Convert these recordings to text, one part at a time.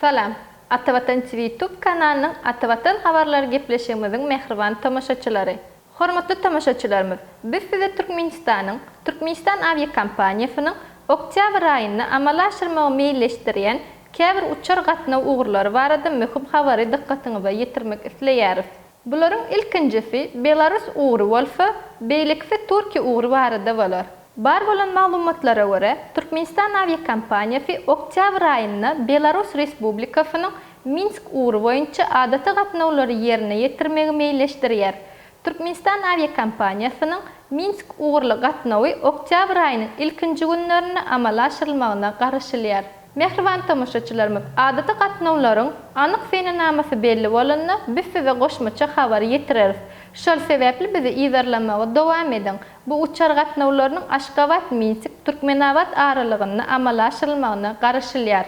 Salam. Atavatan TV Tube kanalynyň Atavatan habarlary gepleşigimiziň mähriban tomaşaçylary! Hormatly tomaşaçylarymyz, biz size Türkmenistanyň Türkmenistan awiakompaniýasynyň oktýabr aýynda amala aşyrmagy meýilleşdirýän käbir uçar gatnaw ugurlary barada möhüm habary dykgatyňyza ýetirmek isleýäris. Bularyň ilkinjisi belarus ugry bolsa, beýlekisi türki ugry barada bolar. Bar bolan maglumatlara görä, Türkmenistan awiakompaniýasy oktýabr aýynda Belarus Respublikasynyň Minsk ugry boýunça adaty gatnawlary ýerine ýetirmegi meýilleşdirýär. Türkmenistan awiakompaniýasynyň Minsk ugurly gatnawy oktýabr aýynyň ilkinji günlerinde amala aşyrylmagyna garaşylýar. Mähriban tomaşaçylarymyz, adaty gatnawlaryň anyk senenamasy belli bolanda, biz size goşmaça habar ýetireris. Şol sebäpli bizi yzarlamagy dowam ediň. Bu uçar gatnawlarynyň Aşgabat, Minsik, Türkmenabat aralygynda amala aşyrylmagyna garaşylýar.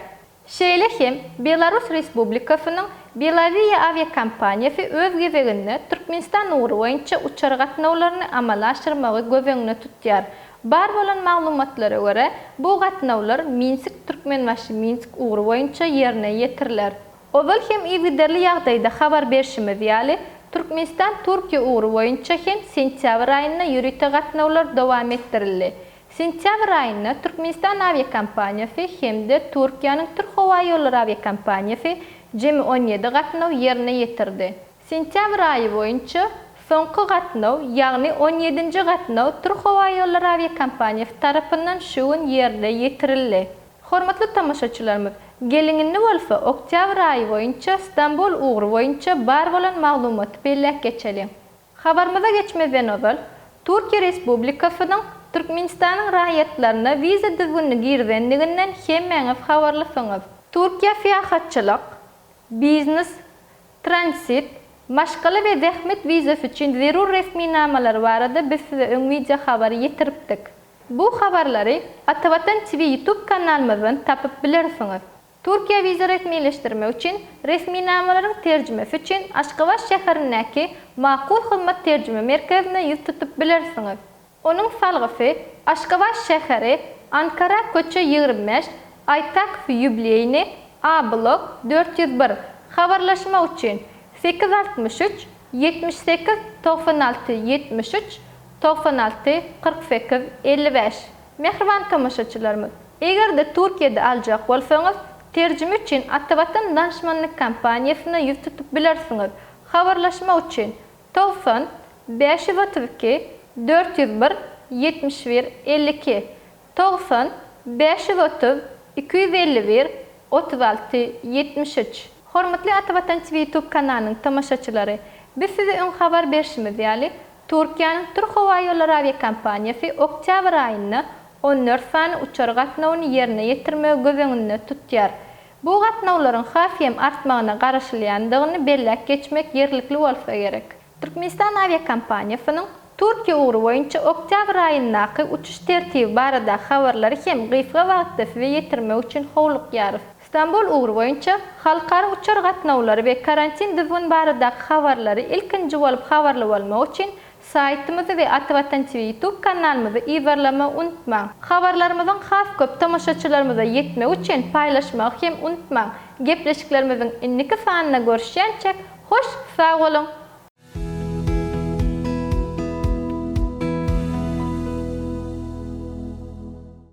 Şeýle hem Belarus Respublikasynyň Belavia awiakompaniýasy öz gezeginde Türkmenistan ugry boýunça uçar gatnawlaryny amala aşyrmagy göz öňüne tutýar. Bar bolan maglumatlara görä, bu gatnawlar Minsk-Türkmenbaşy-Minsk ugry boýunça ýerine ýetiriler. Ozal hem yzygiderli ýagdaýda habar berşimiz ýaly, Türkmenistan-Türkiýe ugry boýunça hem sentýabr aýynda ýörite gatnawlar dowam etdirildi. Sentýabr aýynda Türkmenistan awiakompaniýasy hem-de Türkiýäniň Türk howa ýollary awiakompaniýasy jemi on ýedi gatnaw ýerine ýetirdi. Sentýabr aýy boýunça soňky gatnaw, ýagny on ýedinji gatnaw Türkhowaýollary awiakompaniýasy tarapyndan şu gün ýerine ýetirildi. Hormatly tomaşaçylarymyz, geliň indi bolsa oktýabr aýy boýunça Stambul ugry boýunça bar bolan maglumaty belläp geçeliň. Habarymyza geçmezden ozal, Türkiýe Respublikasynyň Türkmenistanyň raýatlaryna wiza düzgünini girizendiginden hemmäňiz habarlysyňyz. Türkiýe syýahatçylyk, biznes, Transit, maşgala we zähmet wizasy üçin zerur resminamalar barada biz size öň wideo habary ýetiripdik. Bu habarlary Atavatan TV YouTube kanalymyzdan tapyp bilersiňiz. Türkiýä wiza resmileşdirmek üçin resminamalaryň terjimesi üçin Aşgabat şäherindäki Makul hyzmat terjime merkezine ýüz tutup bilersiňiz. Onuň salgysy Aşgabat şäheri, Ankara köçe ýigrimi bäş, Aýtakow ýubileýny, A blok, dört ýüz bir, habarlaşmak üçin, sekiz altmyş üç, ýetmiş sekiz, togsan alty, ýetmiş üç, togsan alty, kyrk sekiz, elli bäş. Mähriban tomaşaçylarymyz, eger-de Türkiýede aljak bolsaňyz, terjime üçin Atavatan Danşmanlyk kompaniýasyna ýüz tutup bilersiňiz. Habarlaşmak üçin, Togsan bäş ýüz otuz iki dört ýüz bir ýetmiş bir elli iki Togsan bäş ýüz otuz iki ýüz elli bir otuz alty ýetmiş üç. Hormatly Ata Watan TV ýutub kanalynyň tomaşaçylary! Biz size öň habar berşimiz ýaly, Türkiýäniň Türk howa ýollary awiakompaniýasy oktýabr aýynda on dört sany uçar gatnawyny ýerine ýetirmegi göz öňünde tutýar. Bu gatnawlaryň has hem artmagyna garaşylýandygyny belläp geçmek ýerlikli bolsa gerek. Türkmenistan awiakompaniýasynyň Türkiýe ugry boýunça oktýabr aýyndaky uçuş tertibi baradaky habarlary hem gysga wagtda size ýetirmek üçin howlukýarys. Stambul ugry boýunça halkara uçar gatnawlary we karantin düzgün baradaky habarlary ilkinji bolup habarly bolmak üçin Saýtymyzy we Ata Watan TV YouTube kanalymyzy yzarlamagy unutmaň. Habarlarymyzyň has köp tomaşaçylarymyza ýetmegi üçin paýlaşmagy hem unutmaň. Gepleşiklerimiziň indiki sanynda görüşýänçä hoş sag boluň!